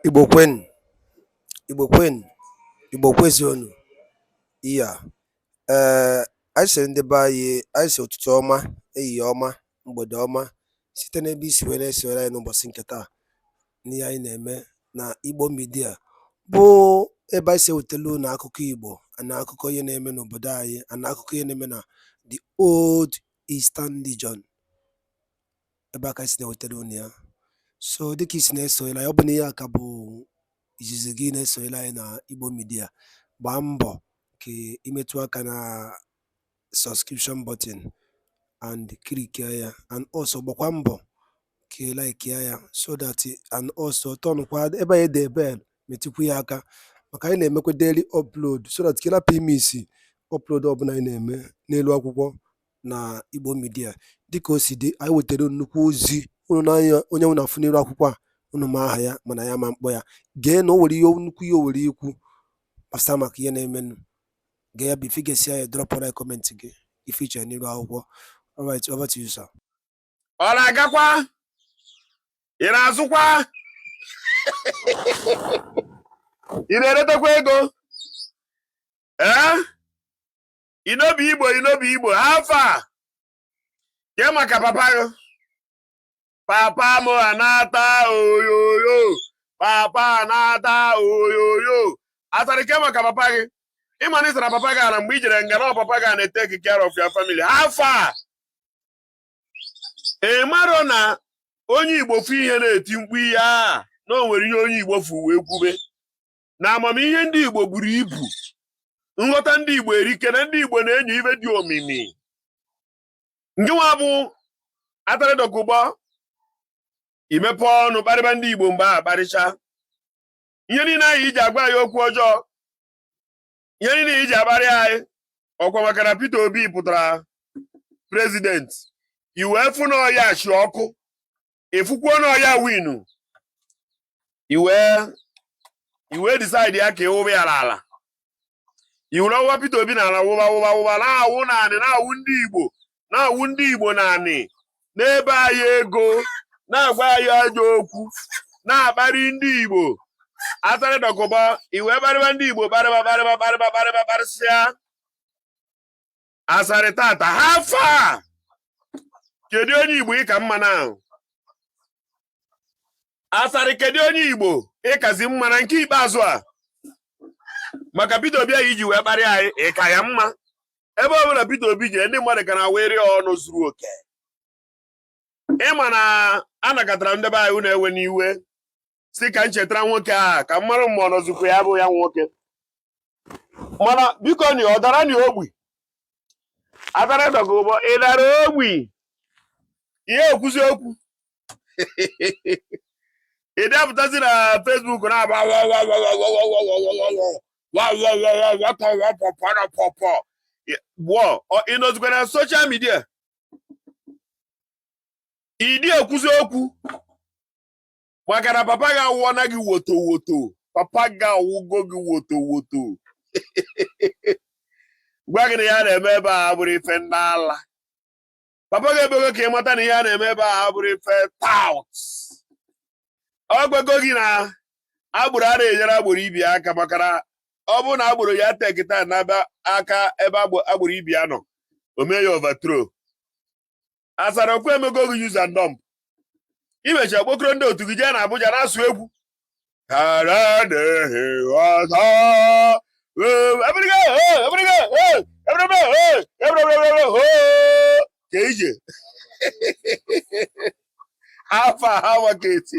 Igbo kwenu, Igbo kwenu, Igbo kwezionu. Iya, ee, eh, anyị sịrị ndị be anyị anyị si ụtụtụ ọma, ehihie ọma, mgbede ọma site n'ebe i si wee na-esonyere anyị n'ụbọchị nke taa n'ihe anyị na-eme na Igbo Media bụ ebe anyị si ewetelu unu akụkọ Igbo na akụkọ ihe na-eme n'obodo anyị na akụkọ ihe na-eme na the old Eastern Region. ebe a ka anyị si na-ewetara unu ya so dịka i si na-esonyere anyị ọ bụ na ihe a ka bụ izizi gị na-esonyere anyị na Igbo Media gbaa mbọ ka i metụ aka na subscription button and click ya and also gbakwa mbọ ka ị like ya so that and also turn kwa ebe anyị dere bell metụkwu ya aka maka anyị na-emekwa daily upload so that ka ị rapụ ịmiss upload ọbụla anyị na-eme n'elu akwụkwọ na Igbo Media dịka o si dị anyị wetara nnukwu ozi unu n'anya onye unu na-afụ n'iru akwụkwọ a unu ma aha ya mana ya ama m kpọ ya gee na o nwere ihe nnukwu ihe o nwere ikwu gbasara maka ihe na-emenụ gee ya bụ ife ị gesịa dropụra comment gị ife i che n'iru akwụkwọ alright over to you sir ọ na-agakwa ị na-azụkwa ị na-eretekwa ego ee I no be Igbo I no be Igbo how far ke maka papa gị papa m anata oyoyo papa anata oyoyo Asari ke maka papa gị ị ma na ị sara papa gị ara mgbe i jere nga na ọ papa gị na take care of your family how far ị maro na onye Igbo fụ ihe na-eti mkpu ihe a na o nwere ihe onye Igbo fụ wee kwube na amamihe ndị Igbo buru ibu nghọta ndị Igbo erika na ndị Igbo na-enyo ife dị omimi ngịnwa bụ Asari Dokubo i mepe ọnụ kparịba ndị Igbo mgbe a kparịcha ihe niile a i ji agwa anyị okwu ọjọọ ihe niile i ji akparị anyị ọ kwa maka na Peter Obi pụtara president i wee fụ na ọ ya chi ọkụ ị fụkwuo na ọ ya-ewin i wee i wee decide ya ka ị wụba ya n'ala i were wụba Peter Obi n'ala wụba wụba wụba na-awụ naanị na-awụ ndị Igbo na-awụ ndị Igbo naanị n'ebe anyị ego na-agwa anyị ajọ okwu na-akparị ndị Igbo Asari Dokubo i wee kparịba ndị Igbo kparịba kparịba kparịba kparịba kparịsịa Asari taa taa how far kedu onye Igbo ị ka mma na ahụ Asari kedu onye Igbo ị kazi mma na nke ikpeazụ a maka Peter Obi a i ji wee kparịa anyị ị ka ya mma ebe ọ bụla Peter Obi jee ndị mmadụ ka na-enwere ọṅụ zuru oke ị ma na anakọtara ndị be anyị unu ewena iwe si ka m cheta nwoke a ka m mara ma ọ nọzikwa ya bụ ya nwoke mana biko ni ọ dara ni ogbi Asari Dokubo ị dara ogbi ihe ekwuzi okwu ị dị apụtazi na Facebook na-agba gwọ ị nọzikwa na social media ị dị ekwuzi okwu maka na papa gị awụọna gị woto woto papa gị awụgo gị woto woto gwa gị na ihe a na-eme ebe a abụrụ ife ndị ala papa gị emego ka ị mata na ihe a na-eme ebe a abụrụ ife tout ọ gwago gị na agboro ana enyere agboro ibe ya aka maka na ọ bụrụ na agboro ya tekịta na-aba aka ebe agboro ibe ya nọ o mee ya overthrow Asari okwu emego gị use and dump i mechaa kpokoro ndị otu gị jee na Abuja na-asụ egwu ka ije afa ha maka eti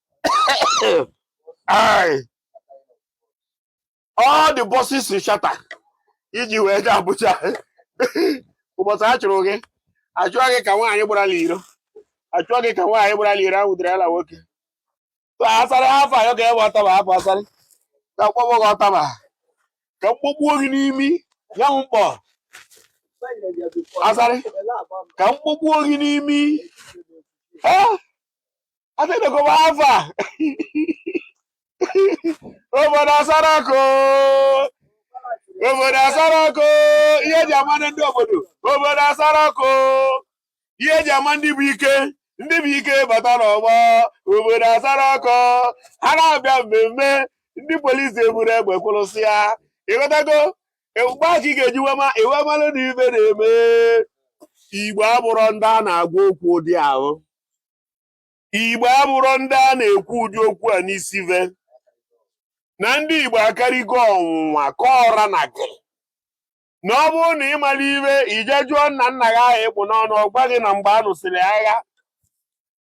Aye. All the buses ị charter. Iji wee gaa Abuja. Ụbọchị a chụrụ gị. Achụọ gị ka nwaanyị gbara n'iro. Achụọ gị ka nwaanyị gbara n'iro ahụ dịrị ala nwoke. So Asari afọ ayọ ka ebe ụtaba afọ Asari. Ka m kpọgbuo gị ụtaba. Ka m kpọgbuo gị n'imi. Ya m mkpọ. Asari. Ka m kpọgbuo gị n'imi. Eh? adịnụgụba afa obodo asara ọkụ obodo asara ọkụ ihe eji ama ndị obodo obodo asara ọkụ ihe eji ama ndị bụ ike ndị bụ ike bata n'ọgbọ obodo asara ọkụ ha na-abịa mmemme ndị polisi eburu egbe kwụrụsịa ị ghọtago mgbe a ka ị ga-eji wee ma i wee malụ na ive na-eme Igbo abụrụ ndị a na-agwa okwu ụdị ahụ Igbo abụrụ ndị a na-ekwu ụdị okwu a n'isi ve na ndị Igbo akarịgo ọnwụnwa kọọra na gị na ọ bụrụ na ị mara ive i je jụọ nna nna gị ahụ ị kpụ n'ọnụ ọ gwa gị na mgbe a nụsịrị agha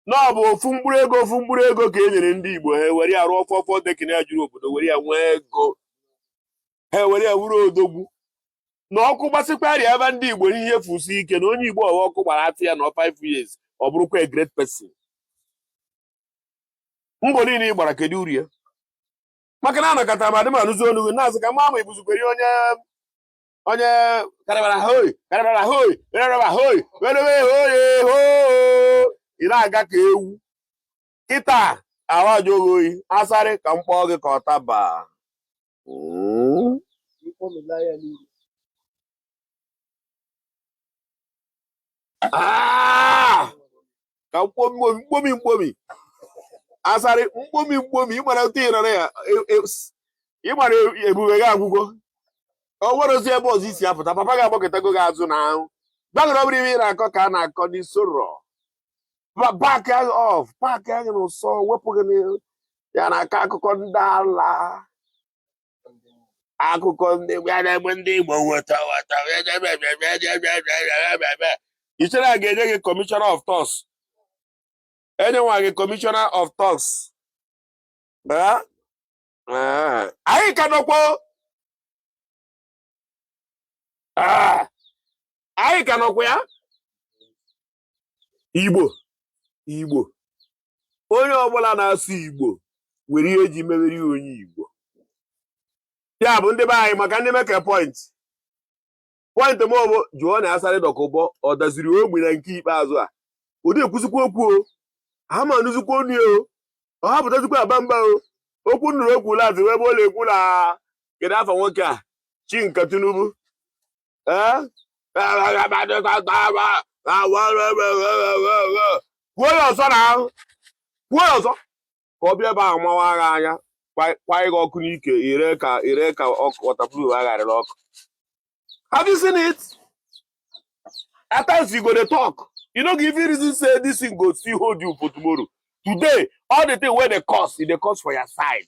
na ọ bụ ofu mkpụrụ ego ofu mkpụrụ ego ka e nyere ndị Igbo ha were ya rụọ four four decking ya juru obodo were ya nwee ego ha ewere ya wuru odogwu na ọkụ gbasịkwarị ebe ndị igbo ihe fusi ike na onye igbo ọwa ọkụ gbara afịa ya na 5 years ọ bụrụkwa a great person mbọ niile ị gbara kedu uru ya maka na anọkata m adị m anụzi olu gị na-azụ ka m ma ma ịbụzikwere onye onye karabara hoi karabara hoi karabara hoi werewe hoi hoo ị na-aga ka ewu kịta ahụ ajụghị oyi asarị ka m kpọọ gị ka ọtaba Ah! ka mkpomi mkpomi mkpomi asarị mkpomi mkpomi ịmara otu ị nọrọ ya e, e, ịmara e, ebube gị agwụgo o nwerọzi ebe ọzọ i si apụta papa gị agbakọtago gị azụ na ahụ gbaghara ọ bụrọ ihe ị na-akọ ka a na-akọ n'aso rock park gị off park gị n'ụsọ wepụ gị ya na-akọ akụkọ ndị ala akụkọ ndị ya na-egbu ndị Igbo woto woto i chere a ga-enye gị commissioner of thugs enyenwa gị commissioner of thugs anyị ka nọkwa Ah, anyị ka nọkwa ya igbo igbo onye ọbụla na-asụ igbo nwere ihe eji mewere ya onye igbo ya bụ ndị be anyị maka ndị meke point point m bụ jụọnụ asari dokubo ọ daziri ogbi na nke ikpeazụ a ọ dị ekwuzikwa okwu o aha m anụzikwa onu o ọ ha apụtazikwa aba mba o okwu m nụrụ o kwu lazụ wụ ebe ọ na-ekwu na kedu afa nwoke a chinka tinubu kwuo ya ọzọ na ahụ kwuo ya ọzọ ka ọ bịa ebe ahụ mawa agha anya kwanye gị ọkụ n'ike ire ka ire ka ọkụ wọtapụrụ agharịrị ọkụ have you seen it at times you go dey talk you no go even reason say this thing go still hold you for tomorrow today all the thing wey dey cause e dey cause for your side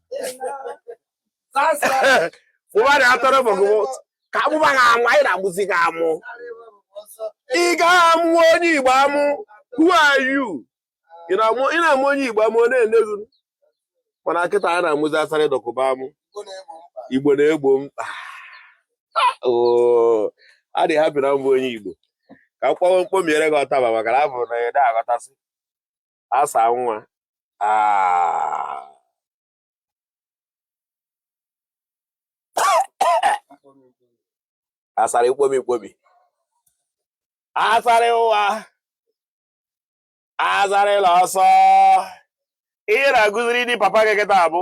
ụbara atọrọ bụgụ ka a mụba gị amụ anyị na-amụzi gị amụ ị ga-amụ onye igbo amụ who are you ị na-amụ onye igbo amụ ọ na-ene gị mana kịta a na-amụzi asari dokubo amụ igbo na-egbo mkpa adị m happy na m bụ onye igbo ka m kpọwa m kpomiere gị ọtaba maka na abụ na ede aghọtasị asa nwa ah. asari mkpomi mkpomi asari ụwa asari la ọsọ ị na-agụziri ndị papa gị kịta abụ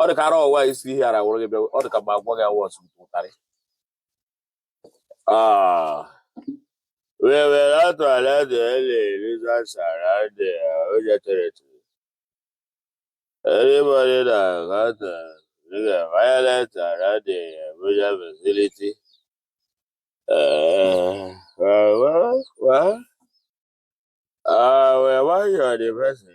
ọ dị ka ara ọwa isi ihe ara wụrụ gị bịa ọ dị ka ma agwọ gị awọ ọsụ ụtarị wewere atụala dị ele eliza sara dị ojetereti everybody na gata nigga violent ara dị abuja facility Uh, well, well, well. Uh, well, why you are the person?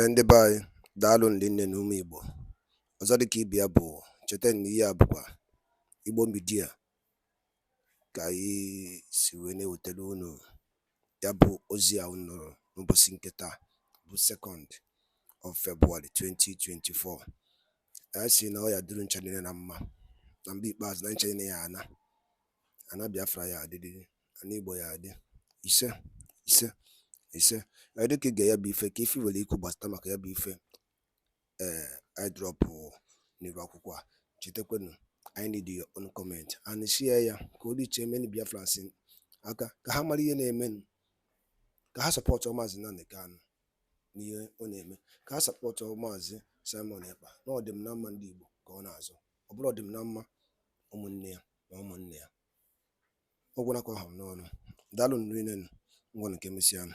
Ee ndị be anyị daalụnụ rinne nụ ụmụ Igbo ọzọ dịka ibe ya bụ cheta na ihe a bụkwa Igbo Media ka anyị si wee na-ewetara unu ya bụ ozi a unu nụrụ n'ụbọchị nke taa bụ sekọnd of February 2024 anyị si na ọ ya adịrị ncha niile na mma na mgbe ikpeazụ na ncha niile ya ana ana Biafra ya adịrịrị ana Igbo ya adị ise ise ise dịka i gee ya bụ ife kee ife i nwere ikwu gbasata maka ya bụ ife ee i drop n'iru akwụkwọ a chetakwanụ anyị need your own comment and share ya ka o reach many Biafrans aka ka ha mara ihe na-eme ka ha support maazị Nnamdi Kanu n'ihe ọ na-eme ka ha support maazị Simon Ekpa na ọdịm na mma ndị Igbo ka ọ na-azọ ọ bụrọ ọdịm na mma ụmụnne ya na ụmụnne ya ọ gwụla ka ọ ha m n'ọnụ daalụnụ rinne nụ ngwanụ ka emesịanụ